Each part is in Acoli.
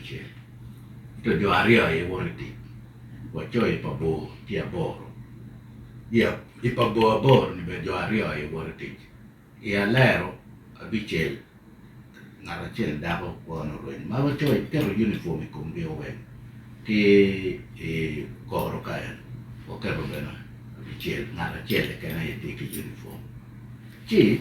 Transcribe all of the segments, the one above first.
Abicel, ento jo aryo aye woto i tic, wacoyo i pa bor ki aboro. I pa bor aboro-ni bene jo aryo aye woto i tic. I alero abicel, ngat acel dako kwone orwenyo ma wacoyo kiketo yunipwom i komgi oweng ki i koro ka en waketo bene abicel ngat acel keken aye tye ki yunipwom ci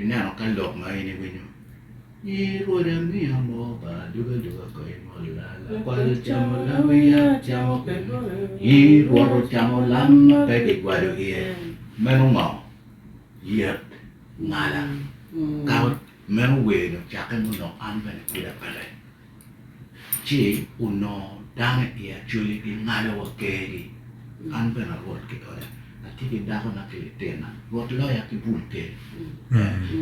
ineno ka lok ma in iwinyo. Nyi rwoda miya moo pa aduga duga ko imolla lakwal camo lam wiya camo pe Nyi rwodo camo lam ma pe kigwado iye meno ngo yet ngala ka meno wer ni ocakke mo nok an bene pud apeke. ci onongo dano i acwali gingado wa kergi, an bene arwot ki oda, atye ki dakona ki litinna, Rwot loya ki bul kel.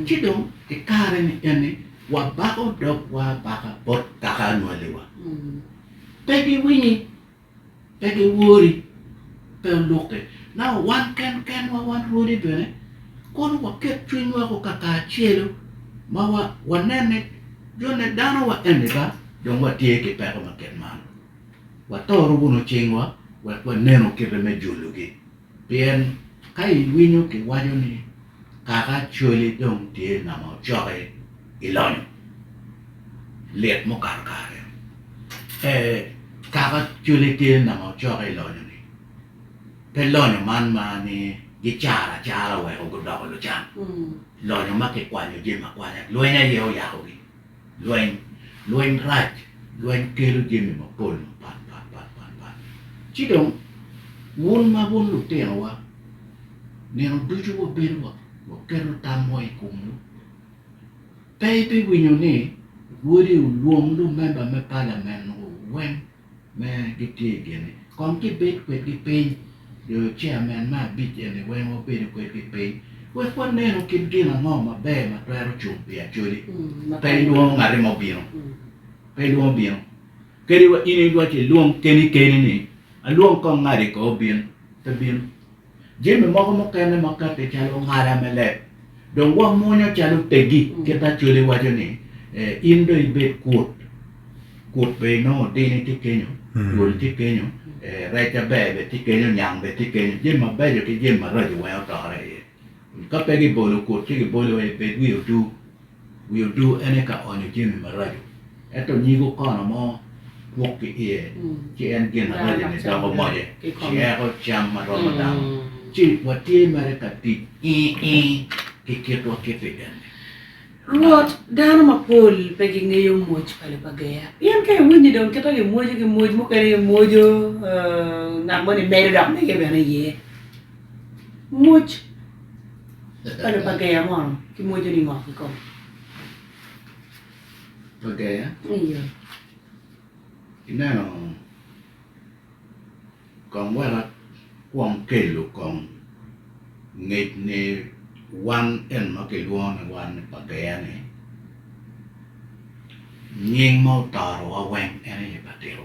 Ci dong i kare ni eni wabako dogwa abaka bot kaka anwaliwa, pe giwinyi. Ento wori pe olukke. Na wan ken kenwa, wan rwodi bene, kono waket cwinywa woko kakacelo ma wanen ni jone dano wa eni ba dong watye ki peko ma kit man. Wato rukunu cingwa wek wanenu kite me jologi. Pien ka iwinyo kiwaco ni, 'Kaka cwali dong tye nama ocoki, ilonyo. Lit mukato kare eno! Ee, kaka cwali tye nama ocoki, ilonyo-ni, pe lonyo man ma ni gicaro acara weko gudoko lucan, lonyo ma kikwanyo jami akwanya lweny aye oyakogi. Lweny, lweny rac, lweny kelo jami mapol mapat pat pat pat pat. Ci dong wun ma wun lutinowa, nino ducu wabedo wa waketo tamwa i komwu. Pe ibiwinyo ni wodi olwong lumemba me palamenwu weng me gitye i gini kong gibed kwedgi piny, jo chairman me abic eni weng wabedo kwedgi piny wek wanenu kit gin ango maber ma twero cung pi Acholi, pe ilwongo ngati mo bino, pe ilwongo bino kadi wa in iwaco ilwong keni keni ni alwong kong ngati ko obin, pe bino. Jami moko mukene makato calo ngala me leb dong wamwonyo calo teggi. Kit Acholi waco ni, In dong ibed kwot, kwot bene inongo dini tye kenyo, twol tye kenyo, rec aber bene tye kenyo, nyang bene tye kenyo, jami mabeco ki jami maraco weng otore iye. Ka pe gibolo kut ci gibolo aye bed wi odu. Wi odu en aye ka onyo jami maraco. Ento nyigo kono mo kwok ki iye, ci en gin araco ni doko moje, ci eko cam ma romo dano. Ci watye mere ka tic ii ii ki kitwa ki pigen-ni. Rwot, dano mapol pe gingeyo moj pa Lupageya. Pien ka iwiny ni dong kita gimwojo ki moj mukene gimwojo, ngat moni medo dok mege bene iye. Muc pa lok pa geya mo ki mwoco ni ngo i kome? Pa geya? Iye. Ineno kong weka kwom kelo kong ngec ni wan eno ma kilwongo ni wan ni pa geya ni nying ma otoro wa weng en aye pa tito.